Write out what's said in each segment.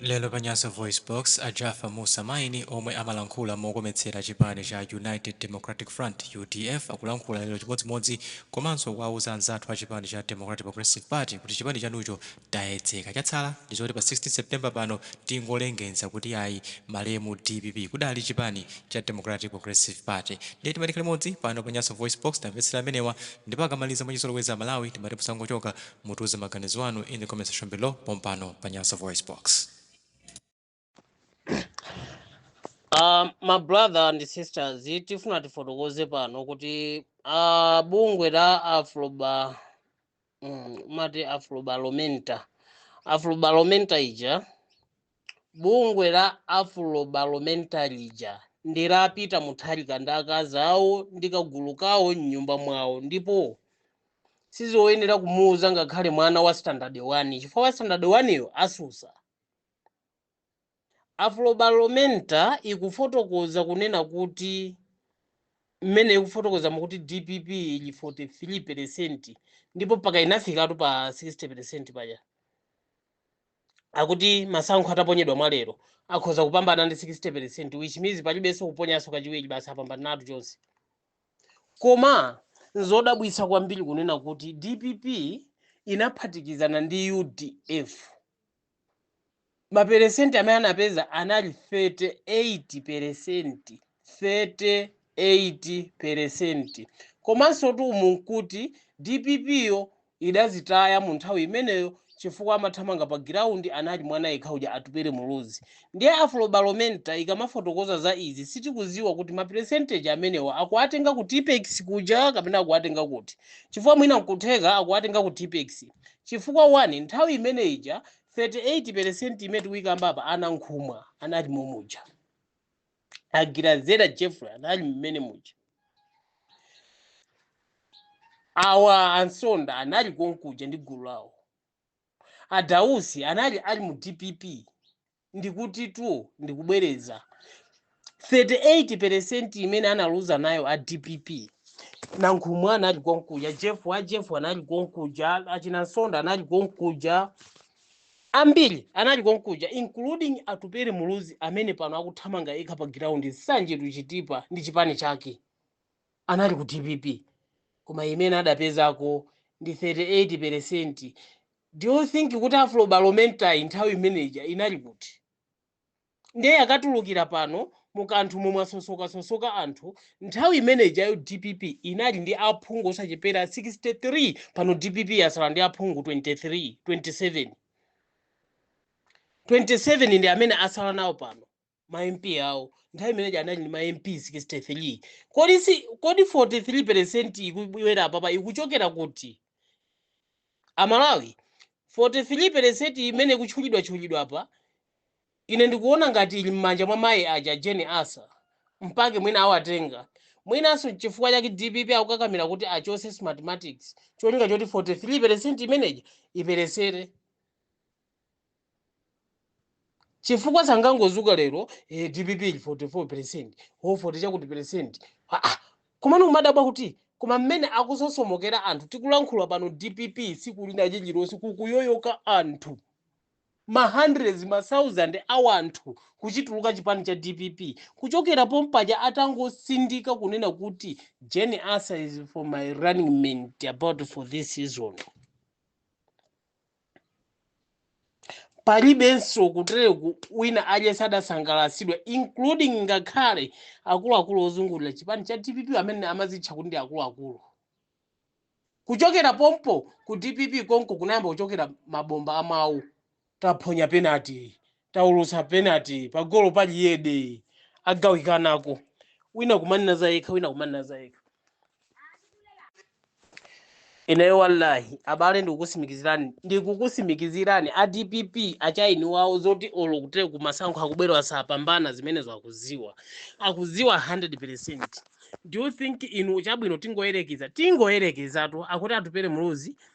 Lero pa Nyasa VoiceBox, a Jaffar Mussa Maini omwe amalankhula mokometsera chipani cha United Democratic Front, udf, akulankhula lero chimodzimodzi komanso kuwauza anzathu a chipani cha Democratic Progressive Party kuti chipani chanucho chayedzeka chatsala ndi zoti pa 16 September pano tingolengenza kuti ayi malemu dpp kudali chipani cha Democratic Progressive Party ndiye timati tikhale limodzi pano pa Nyasa VoiceBox timvetsere amenewa ndipo akamaliza mwachizolowezi amalawi timati musangochoka Mutiuze maganizo anu in the comment section below pompano pa Nyasa Voice Box. Uh, ma brother and sisters tifuna tifotokoze pano kuti uh, bungwe la afroba mm, mati afrobalomenta afrobalomenta ija Bungwe la Afrobarometer lija ndi la Peter Mutharika ndi akazi awo ndi kagulu kawo m'nyumba mwawo ndipo sizoyenera kumuuza ngakhale mwana wa standard 1 chifukwa wa standard 1 yo atsutsa. Afrobarometer ikufotokoza kunena kuti mmene ikufotokoza nkuti DPP ili 43% ndipo mpaka inafikatu pa 60% paja. akuti masankho ataponyedwa mwa lero akhoza kupambana ndi 60 percent which means palibenso kuponyanso kachiwiri basi apambanatu chonse koma nzodabwitsa kwambiri kunena kuti dpp inaphatikizana ndi udf maperesenti amene anapeza anali 38 peresenti 38 peresenti. Komansotu umu n'kuti dpp yo idazitaya munthawi imeneyo chifukwa amathamanga pa giraundi anali mwana yekha uja Atupele Muluzi. Ndiye Afrobarometer ikamafotokoza za izi sitikudziwa kuti ma peresenteji amenewa akuwatenga ku Tippex kuja kapena akuwatenga kuti chifukwa mwina nkutheka akuwatenga ku Tippex chifukwa 1 nthawi imene ija 38 peresenti imene tikuikamba apa a Nankhumwa anali momuja. a grezelder jeffrey anali mmene muja awa a msonda anali konkuja ndi gulu lawo a dausi anali ali mu dpp ndikutitu ndikubwereza 38 percent imene analuza nayo a dpp nankhumwa anali konkuja jeff wa jeff anali konkuja achina msonda anali konkuja Ambiri anali konkuja including Atupele Muluzi amene pano akuthamanga yekha pa ground nsanje to Chitipa ndi chipani chake. Anali ku dpp koma imene adapezako ndi 38%. Do you think kuti Afro-Barometer'yi nthawi imene ija inali kuti? ndiye yikatulukira pano mu kanthawi momwe asosokasosoka anthu nthawi imene ijayo dpp inali ndi aphungu osachepera 63 pano dpp yatsala ndi aphungu 23 27 27 ndi amene atsala nawo pano ma mp awo nthawi imeneja anali ndi ma mp 63 kodi 43 percent ikubwera apapa ikuchokera kuti Amalawi, 43 peresenti imene ikutchulidwatchulidwa apa, ine ndikuona ngati ili m'manja mwa mayi aja a Jane Ansah. Mpake mwina awatenga. Mwinanso n'chifukwa chake DPP akukakamira kuti achotse Smartmatic n'cholinga choti 43 peresenti imene ija iperesere. chifukwa sangangodzuka lero eh, dpp ili 44 percent ho 40 chakuti percent ah, ah. komano kumadabwa kuti koma mmene akusosomokera anthu tikulankhula pano dpp tsiku lina lililonse kukuyoyoka anthu ma hundreds ma thousand a anthu kuchituluka chipani cha dpp kuchokera pompaja atangosindika kunena kuti jane ansah is for my running mate about for this season palibenso kutereku wina aliyense adasangalatsidwa including ngakhale akuluakulu ozungulira chipani cha dpp amene amazitcha kuti ndi akuluakulu kuchokera pompo ku dpp konko kunayamba kuchoka mabomba amawu taphonya penalty taulutsa penalty pagolo pa jiyede agawikanako wina kumanena za yekha wina kumanena za yekha ineyo wallahi abale ndikukutsimikizirani ndikukutsimikizirani a dpp achaini wawo zoti olo kutere kumasankho akubwerawa sapambana zimenezo akudziwa akudziwa 100 percent do you think inu chabwino tingoyerekeza tingoyerekeza kuti atupele muluzi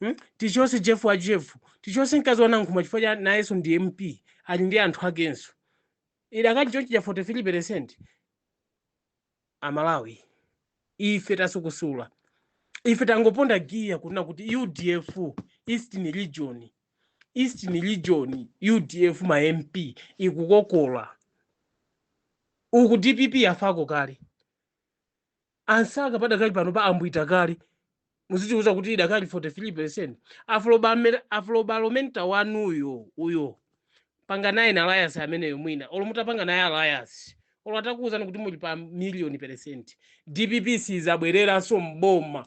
Hmm? Tichotse Jefu wa Jefu, tichotse mkazi wa Nankhumwa chifukwa nayenso ndi MP ali ndi anthu akenso. Idakali chonchija 43% Amalawi ife tasukusula. Ife tangoponda giya kunena kuti UDF Eastern Region Eastern Region UDF ma MP ikukokola. Uku DPP yafako kale. a Nsaka padakali pano pa ambwiita kale muzitiuza kuti idakali 43% Afrobarometer- afrobaromenta wanuyo uyo panganayeni alliance ameneyo mwina olo mutapanga naye alliance olo atakuwuzani kuti muli pa million percent dpp sidzabwereranso mboma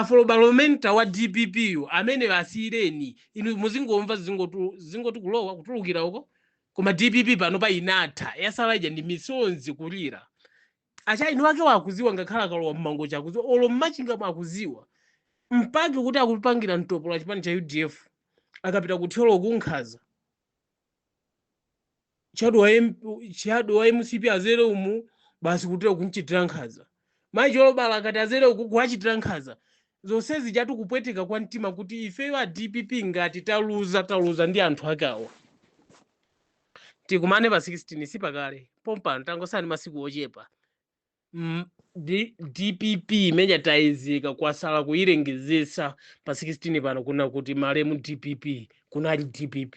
Afrobarometer wa dpp yu ameneyo asiyireni inu muzingomva zingoti kulowa kutulukira uko koma dpp pano pa inatha yatsala ija ndi misonzi kulira achaini wake akudziwa ngakhale akalowa mmangochi akudziwa olo mmachingamu akudziwa mpake kuti akupangira mtopola chipani cha udf akapita kuthyolo kunkhaza chadu wa, M, chadu wa mcp azere umu basi kutere kumchitira nkhaza mayi cholobala akati azere uku kuwachitira nkhaza zonsezi zatu kupweteka kwa mtima kuti ifeyo a dpp ngati taluza taluza ndi anthu ake awa tikumane pa 16 sipakale pompano tangotsala masiku ochepa M- D- dpp imene tayizika kwasala kuyilengezetsa pa 16 pano kunena kuti malemu dpp kunali dpp